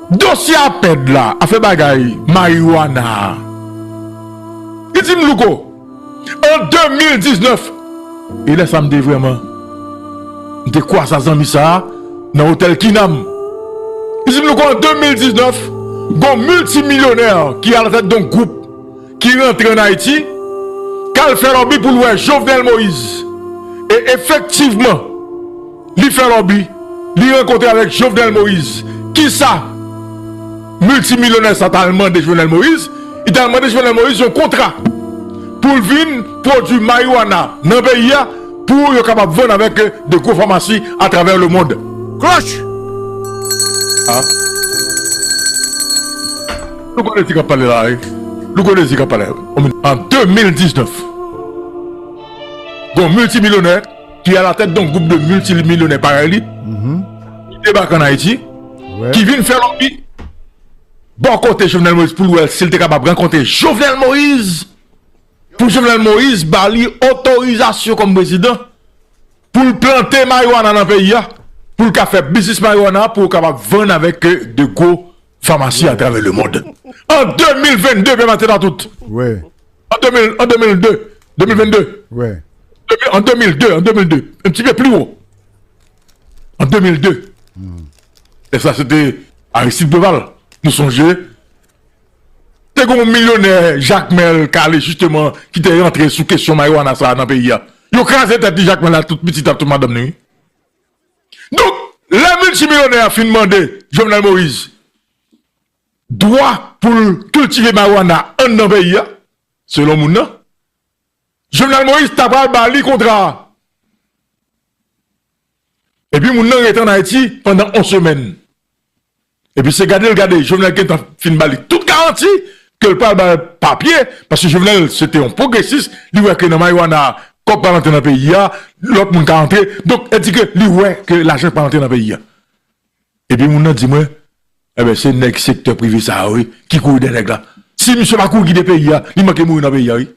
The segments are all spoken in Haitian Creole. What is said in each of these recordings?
Dosye apèd la, afè bagay marijuana a. Li di m Louko, an 2019, e lè sa m te vrèman, m te kwasa zanmi sa a nan otèl Kinam. Li di m Louko an 2019, gon miltimilyonè ki alatèt don gwoup ki rantre an Ayiti, k al fè lòbi pou l wè Jovenel Moïse. E efektivman. Li fè lòbi, li rankontre avèk Jovenel Moïse. Kisa miltimilyonè sa ta al mande Jovenel Moïse? Li ta al mande Jovenel Moïse yon kontra pou l vin pwodui mariwana nan peyi a pou yo kapab vann avèk de gwo famasi atravè lemond. Cloche! Loukonezi k ap pale la wi. Loukonezi k ap pale. An 2019, gen yon miltimilyonè. ki alatèt don gwoup de miltimilyonè parèy li, ki debake an Ayiti, ki vin fè lòbi bò kote Jovenel Moïse pou l wè si l te kapab rankontre Jovenel Moïse, pou Jovenel Moïse ba li otorizasyon kòm prezidan pou l plante mariwana nan peyi a, pou l ka fè biznis mariwana pou yo kapab vann avèk de gwo Famasi a travè le mond. An 2022, Pè Mateta tout. Wè. An 2000, an 2002, 2022. Wè. An 2002, an 2002. An ti pè pli wou. An 2002. E sa se te Aristide Preval. Nou sonje. Te goun milyonè Jacmel Kale jisteman ki te rantre sou kesyon Maywana sa nan peyi a. Yo kraze tèt di Jacmel a tout pitit a tout madanm ni. Donk, lè miltimilonè a fin mande Jovenel Moïse dwa pou l kiltive marijuana anndan peyi a, selon moun nan, Jovenel Moïse ta pral ba li kontra a. Epi moun nan rete ann Ayiti pandan on semèn. Epi se gade l gade Jovenel gentan fin ba li tout garanti ke l pral ba l papye paske Jovenel se te yon pwogresis li wè ke nan marijuana a kòb pral antre nan peyi a lòt moun ka antre donk e di ke li wè ke lajan pral antre nan peyi a epi moun nan di mwen enben se nèg sektè prive sa yo wi ki kouri dèyè nèg la si misye pa kouri kite peyi a li manke mouri nan peyi a wi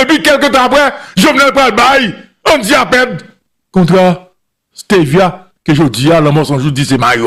epi kèlke tan aprè Jovenel pral bay Andy Apèd kontra stevia ke jodi a lanmò sanjou di se marijuana.